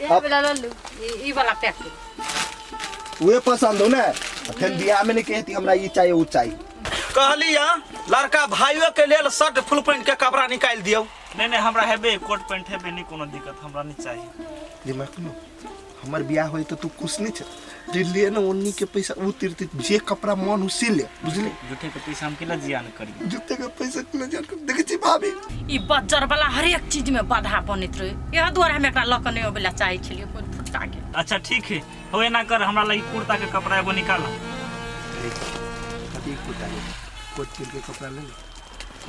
ये वाला ले लू ये ई वाला पैक कर उहे पसंद हो ना फिर बियाह में नहीं कहती हमरा ई चाहिए ऊ चाहिए कहली या लड़का भाइयों के लेल शर्ट फुल पैंट के कपड़ा निकाल दियो नहीं नहीं हमरा हेबे कोट पैंट हेबे नहीं कोनो दिक्कत हमरा नहीं चाहिए दिमाग में हमर बियाह होई तो तू खुश नहीं छ जे ले ना उन्नी के पैसा उ तिरते जे कपड़ा मन हो से ले बुझले झूठे के पैसा हम केला जियान करी जते के पैसा के ना जान कर देखे छी भाभी ई बज्जर वाला हरेक चीज में बाधा बनैत रहे इएह दुआरे हम एकरा लऽ कऽ नहि अबै लए चाहै छलियै कोइ फुटका के अच्छा ठीक है हो एना कर हमरा लगी कुर्ता के कपड़ा एगो निकाल अभी कोटा ले कोट के लिए कपड़ा ले ले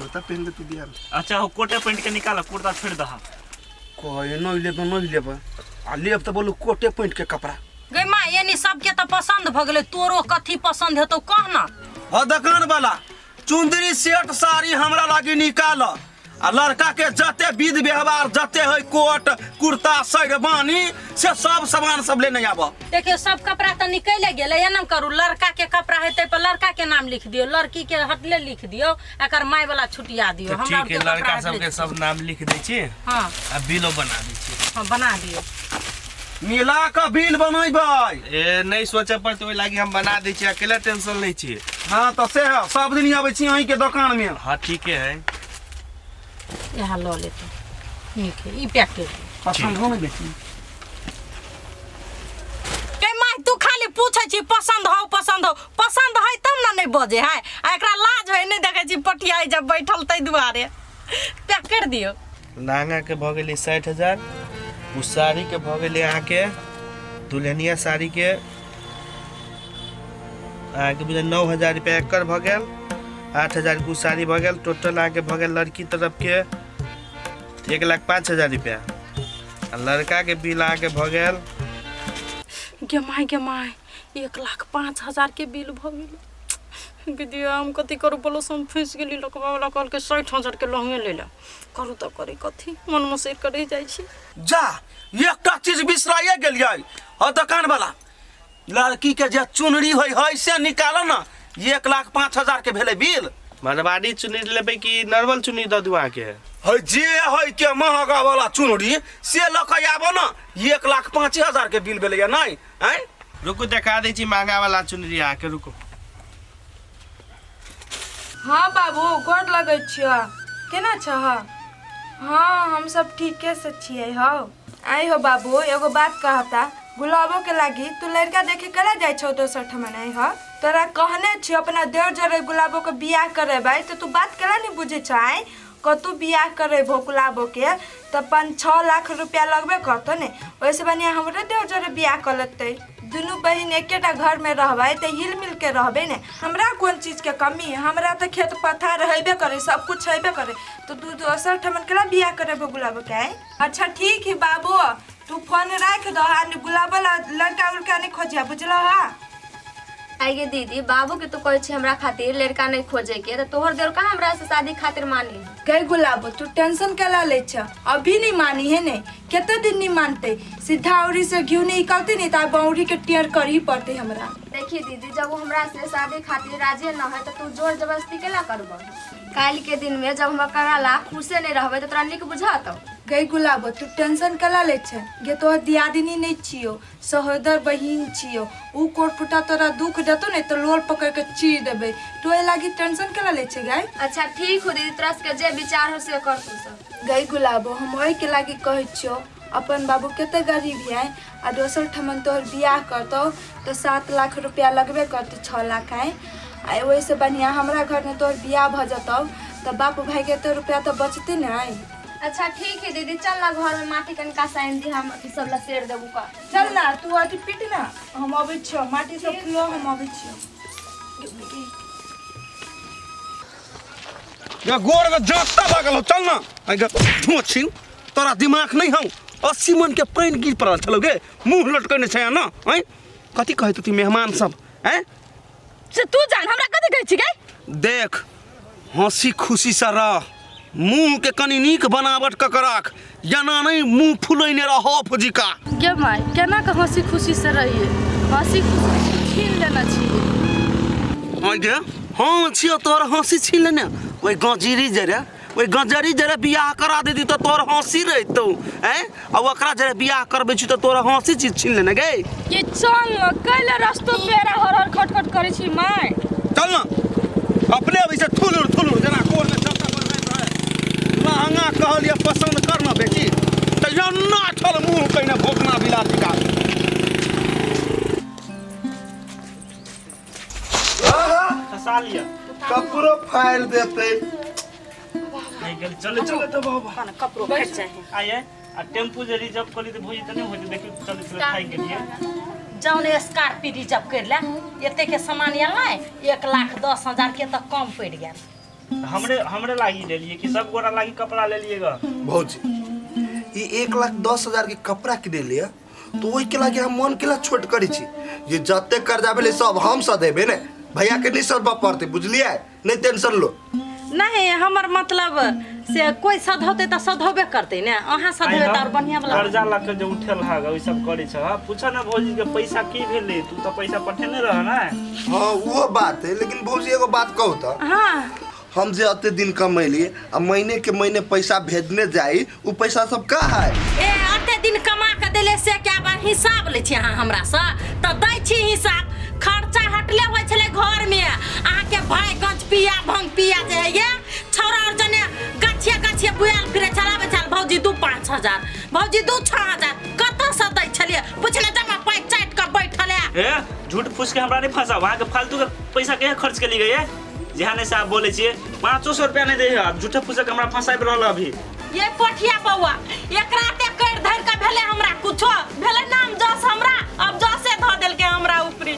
बता पहन ले तू बियाह में अच्छा हो कोटे पेंट के निकाल कुर्ता छोड़ दहा कहे नहीं ले तो नहीं लेबा आ लेब तो बोलू कोटे पैंट के कपड़ा गै माँ एनी सबके तऽ पसन्द भऽ गेलै तोरो कथी पसन्द हेतौ कह ना ह दोकान वाला चुंदरी सेट साड़ी हमरा लागी निकाल आ लड़का के जते विध व्यवहार जते है कोट कुर्ता शेरवानी से सब सामान सब लेने आब देखियो सब कपड़ा तऽ निकले गेलै एना करू लड़का के कपड़ा हेतै पर लड़का के नाम लिख दियौ लड़की के हटले लिख दियौ एकर माय वाला छुटिया दियो हमरा ठीक है लड़का सब के सब नाम लिख दे छी हां आ बिलो बना दे छी हां बना दियो मिला के बिल बनेबै ए नहीं सोचे पर तो लागी हम बना दे छी अकेला टेंशन नहीं छी हां तो से सब दिन आबै छी अहीं के दुकान में हां ठीक है इएह लऽ लेतै नीक है, ई पैक कर दे पसंद हो गई बेटी ए माय तू खाली पूछै छी पसंद हौ पसंद हौ पसंद है तब ना नहीं बजे है आ एकरा लाज है नहीं देखे छी पटिया जब बैठल तै दुआरे पैक कर दियो लहंगा के भऽ गेलै साठि हजार ओ साड़ी के भऽ गेलै अहाँके दुल्हनिया साड़ी के अहाँके बुझल नौ हजार रुपया एकर भऽ गेल आठ हजार के उ साड़ी भऽ गेल टोटल अहाँके भऽ गेल लड़की तरफ के एक लाख पाँच हजार रुपया आ लड़का के बिल अहाँके भऽ गेल गे माय गे माय एक लाख पाँच हजार के बिल भऽ गेल दीदी हम कथी करू बोलो से हम फँसि गेली लोकबा वाला कहलकै साठि हजार के लहंगे ले ला करू तऽ करी कथी मन मसैर के रहि जाइ छी जा एकटा चीज बिसराइए गेलियै हो दोकान वाला लड़की के जे चुनरी होई है से निकालो ना ये एक लाख पाँच हजार के भेले बिल मरवाड़ी चुनी लेबै कि नॉर्मल चुनी दऽ दू अहाँके है जे है के महंगा वाला चुनरी से लऽ के आबो ना ये एक लाख पाँच हजार के बिल भेले नहीं हैं रुकू देखा दै छी महंगा वाला चुनरी अहाँके रुकू हाँ बाबू गोर लगै छियह केना छह हाँ हम सब ठीके से छियै हौ आई हो बाबू एगो बात कहता गुलाबो के लागी तू लड़का देखे करा जाए छो दोसर ठमन आई हो तोरा कहने छी अपना देवर जरे गुलाबो के बियाह करे भाई तो तू बात करा नहीं बुझे छ आई कतू बियाह करे भो गुलाबो के तो पाँच छः लाख रुपया लगबे करतो ने वैसे बनिया हमरे देवर जरे बियाह कर लेते दुनू बहन एकेटा घर में रहबै तो हिल मिल के रहबे ने हमरा कोन चीज के कमी है हमरा तो खेत पथार हेबे करे सब कुछ हेबे करे तो तू दोसर ठमन केला बियाह करे भो गुलाबो के आई अच्छा ठीक है बाबू तू फोन रख दो आ गुलाब वाला लड़का उड़का नहीं खोजिया बुझल हा आइए दीदी बाबू के तो कहे छी हमरा खातिर लड़का नहीं खोजे के तो तोहर देर का हमरा से शादी खातिर मान ली कह गुलाब तू टेंशन कला ले छ अभी नहीं मानी है ने कितना दिन नहीं मानते सीधा औरी से घी नहीं निकलते नहीं तो बौरी के टेयर कर ही पड़ते हमरा देखिए दीदी जब वो हमरा से शादी खातिर राजी न है तो तू जोर जबरदस्ती केला करबो काल्हि के दिन में जब हमरा करा ला खुशे नहीं रहबे तो तोरा निक बुझात गई गुलाबो तू टेंशन कला ले छै गे तोहर दियादिनी नहीं छियो सहोदर बहिन छियो ऊ कोटपुटा तोरा दुख देतो ने तो लोल पकड़ के चीर देबे तू ए लागी टेंशन कला ले छै गाय अच्छा ठीक हो दीदी तोरा सबके जे विचार हो से कर तू सब गई गुलाबो हम ओहि के लागी कहै छियो अपन बाबू कते गरीब है आ दोसर ठमन तोहर बियाह करतौ तऽ सात लाख रुपया लगबे करतौ छओ लाख आइ आ ओहिसँ बढ़िआँ हमरा घरमे तोहर बियाह भऽ जेतौ तऽ बाप भायके एते रुपया तऽ बचतै ने आइ अच्छा ठीक है दीदी चल ना घर में माटी कनका साइन दी हम ई सब लसेर देबू का चल ना तू अथी पीट ना हम अबै छियौ माटी सब खुलो हम अबै छियौ या गोर के जाता लागल हो चल ना आई गे ढोछिन तोरा दिमाग नहीं हौ अस्सी मन के पानि गिर पड़ल छलौ गे मुंह लटकने छै ना हैं कथी कहै तू मेहमान सब हैं से तू जान हमरा कथी कहै छी गई देख हंसी खुशी से रह मुंह के कनी नीक बनावट क के राख जेना नहि मुँह फुलैने रहऽ फुजिका गे माय केना कऽ हँसी खुशी से रहिए हँसी खुशी छीन लेना छी आगे हाँ छियो तोर हँसी छीन लेने ओहि गजरी जरे ओहि गजरी जरे बियाह करा देती तऽ तोर हँसी रहितौ हैं आ ओकरा जरे बियाह करबै छी तऽ तोरा हँसी चीज छीन लेने गे ये चल न कैले रस्तो पेरा हर हर खट खट करे छी माय चल ना अपने अभी से थुलुर थुलुर जना कोर में चक्का पर रह रहे लहंगा कहलिए पसंद कर ना बेटी तो यो ना छल मुंह कइने भोकना बिला दिखा फसा लिया कपड़ो फाड़ देते चले चले तो बाबा कपड़ो फट जाए आइए आ टेम्पू जे रिजर्व कर ली तो भौजी तनी होती देखी चल चल खाई के लिए जौन स्कॉर्पियो रिजर्व कर ले एते के सामान आयल नहीं एक लाख दस हजार के तो कम पड़ गया हमरे हमरे लागी ले लिए कि सब गोरा लागी कपड़ा ले लिएगा भौजी ई एक लाख दस हजार के कपड़ा किने लिए तो ओहि के लागे हम मन के ला छोट करी छी जे जते कर्जा भेलै सब हम सधेबे ने भैया के नहीं सदबऽ पड़तै बुझलियै नहीं टेंशन लो नहीं हमर मतलब से कोई सधौते त सधौबे करते ने अहाँ सधौबे त और बढ़िया वाला कर्जा ला के जो उठल हा ओइ सब करे छ पूछा ना भौजी के पैसा की भेले तू तो पैसा पठेने रह ना हाँ वो बात है लेकिन भौजी एगो बात कहू तो हाँ हम जे अते दिन कमैली आ महीने के महीने पैसा भेजने जाई उ पैसा सब का है ए अते दिन कमा के देले से क्या बा हिसाब ले छी अहाँ हमरा से त दै छी हिसाब खर्चा हटले होय छले घर में अहाँ के भाई गंज पिया भंग पिया जे है ये छौरा और जने गाछिया गाछिया बुआल फिरे छला बेचाल भौजी दू पाँच हजार भौजी दू छः हजार कत से दै छलिए पूछले जमा पाइ चाट के बैठल है ए झूठ फूस के हमरा नहीं फंसाओ वहाँ के फालतू के पैसा के खर्च के लिए गए जहाँ नहीं साहब बोले छे पाँचो सौ रुपया नहीं दे है अब झूठे फूसे के हमरा फंसाई रहल है अभी ये कोठिया बौआ एक राते कर धर के भेले हमरा कुछो भेले नाम जस हमरा अब जसे धो देल के हमरा ऊपरी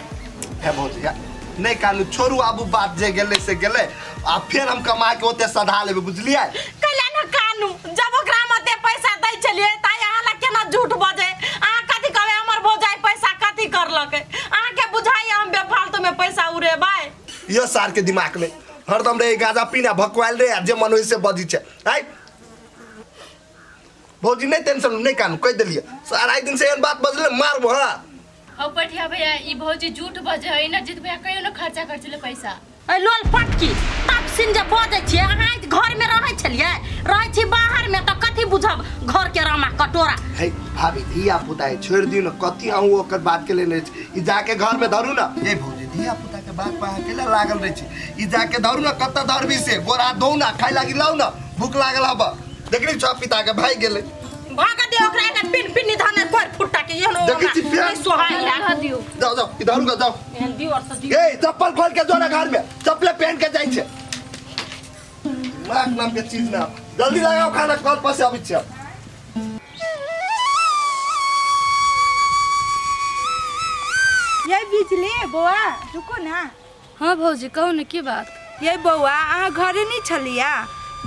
है भौजी या- नहीं कानू छोड़ू आबू बात जे गेले से गेले आ फिर हम कमा के ओते सधा लेबे बुझलिए कैला न कानू जब ओकरा मते पैसा दै छलिए त यहाँ ला केना झूठ बजे अहाँ कथी कहबे हमर भौजाई पैसा कथी करलक अहाँ के बुझाइए हम बेफालतू में पैसा उड़ेबै यो सारके दिमागले हरदम रे गाजा पिना भकुवाइल रे जे मन होइ से बजी छै है भौजी नहि टेंशन नहि कान कहि देलियै सारा एक दिन से एहन बात बजले मारब हँ अब पठिया भैया ई भौजी झूठ बजे है ना जित भैया कहियो ना खर्चा कर चले पैसा ऐ लोल पटकी तब सिन जे बजै छियै अहाँ ई घरमे रहै छलियै रहै छी बाहरमे तऽ कथी बुझब घरके रामा कटोरा है भाभी धिया पुता है छोड़ दियो ना कथी अहूँ ओकर बात के लेने छी। ई जाके घर में धरू ना ए भौजी धिया कुत्ता के बाग पा अकेला लागल रहे छी ई जाके दौड़ ना कत्ता दौड़बी से गोरा दो ना खाए लागी लाओ ना भूख लागल हबा देखली छो पिता के भाई गेले भाग दे ओकरा के पिन पिन निधान पर फुट्टा के ये नो देखै छी प्यार। सोहाय रह दियो जाओ जाओ इधर का जाओ एहन दियो और से दियो ए चप्पल खोल के जो ना घर में चप्पल पहन के जाई छे माक नाम के चीज ना जल्दी लगाओ खाना कल पर से अबै छे ये बिजली बौआ रुको ना हाँ भौजी कहू ने की बात ये बौआ अहाँ घरे नहीं छलिया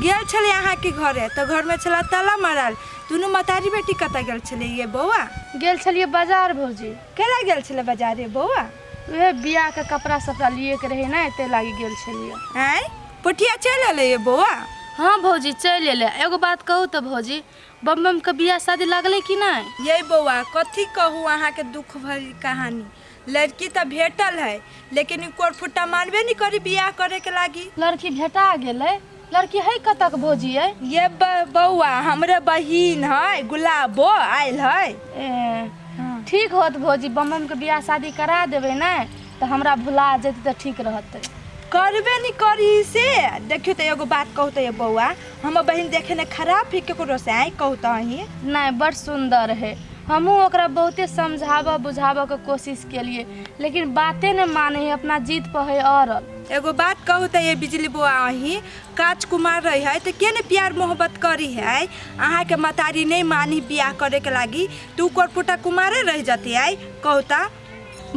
गेल छले अहाँ के घरे तो घर में छला ताला मारल दुनू मतारी बेटी कत गेल छले ये बौआ गेल छलिए बाजार भौजी केला गेल छले बाजारे बौआ उहे बियाह के कपड़ा सपड़ा लिए के रहे ना ते लागी गेल छलिए आँय पोठिया चलि अयलै ये बौआ हँ भौजी चलि अयलै एगो बात कहू तऽ भौजी बम बमके बियाह शादी लगलै कि नहि ये बौआ कथी कहू अहाँके दुख भरी कहानी लड़की तऽ भेटल है लेकिन ई कोरफुट्टा मानबे नहि करी बियाह करैके लागी लड़की भेटा गेलै लड़की है कतक भौजी अइ ये ब- बौआ हमरे बहिन है गुलाबो आयल है ए, ठीक होत भौजी बम बमके बियाह शादी करा देबै ने तऽ हमरा भुला जेतै तऽ ठीक रहतै करबे नहीं करी से देखियो तो एगो बात कहू तो ये बौआ हमर बहन देखे ने खराब है केकरो से आई कहू तो ही नहीं बड़ सुंदर है हमहूँ ओकरा बहुते समझाबऽ बुझाबऽ के कोशिश केलिए लेकिन बाते नहीं माने है अपना जिद पर है अड़ल एगो बात कहू तो ये बिजली बौआ अही काच कुमार रही है तो के ने प्यार मोहब्बत करी है अहाँ के मतारी नहीं मानी बियाह करे के लागी तो ऊ करपुटा कुमारे रह जती आई कहू तो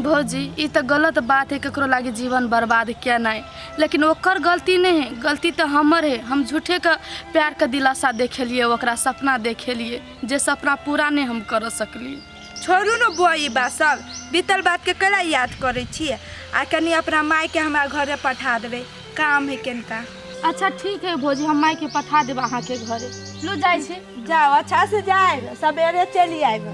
भौजी ई तऽ गलत बात है केकरो लागे जीवन बर्बाद केनाइ लेकिन ओकर गलती नहीं है गलती तऽ हमर है हम झूठे के प्यार के दिलासा देखेलिए ओकरा सपना देखेलिए जे सपना पूरा नहीं हम कर सकलिए छोड़ू ने बुआ ई बात सब बीतल बात के कला याद करे छिए आ कनी अपना माय के हमरा घरे पठा देबे काम है केनका अच्छा ठीक है भौजी हम माय के पठा देब अहाँ के घरे लो जाए छी जाओ अच्छा से जाए सवेरे चली आएगा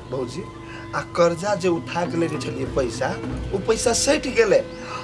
भौजी आ कर्जा जे उठा के लेने छलिए पैसा वो पैसा सैट गेले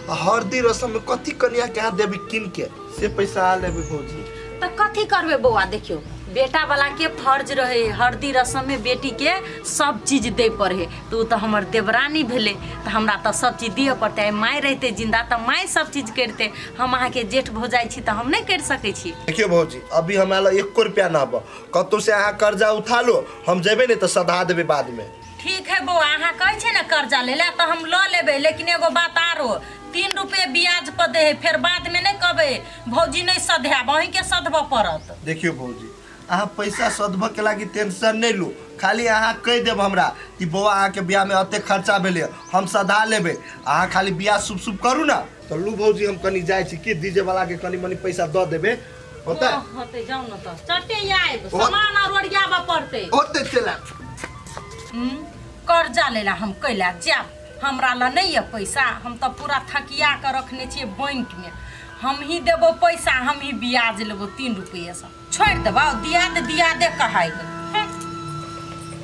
आ हरदी रसम में कथी कनिया के हाथ देबी किन के से पैसा आ लेबे भौजी तो कथी करबे बौआ देखियो बेटा वाला के फर्ज रहे हरदी रसम में बेटी के सब चीज दे पड़े तो उ तो हमर देवरानी भेले तो हमरा तो सब चीज दिए पड़ते आइ माय रहते जिंदा तो माय सब चीज करते हम अहाँ के जेठ भौजाई छी तो हम नहीं कर सके छी देखियो भौजी अभी हमरा लग एको रुपया ना बा कतौ से अहाँ कर्जा उठा लो हम जेबे नहीं तो सधा देबे बाद में ठीक है बौआ अहाँ कहै छै ने कर्जा ले ला तऽ हम लऽ लेबै लेकिन एगो बात आरो तीन रुपये ब्याज पर दे है फेर बाद में नहीं कहबै भौजी नहीं सधायब अहीं के सधबऽ पड़त देखियो भौजी अहाँ पैसा सदबऽ के लागी टेंशन नहीं लू खाली अहाँ कह देब हमरा कि बौआ अहाँ के ब्याह में अते खर्चा भेले हम सधा लेबे अहाँ खाली ब्याह शुभ शुभ करू ना तो लू भौजी हम कनी जाए छी कि डीजे वाला के कनी मनी पैसा दऽ देबे होतै होतै जाउ ने तऽ चटे आयब सामान आर ओरियाबऽ पड़तै होतै चला कर्जा लै लए हम कैला जायब हमरा लए नहि यऽ पैसा हम तऽ पूरा थकिया कऽ रखने छियै बैंकमे हमही देबो पैसा हमही ब्याज लेबो तीन रुपैएसँ छोड़ि देबौ दिया दे दिया दे कहाइ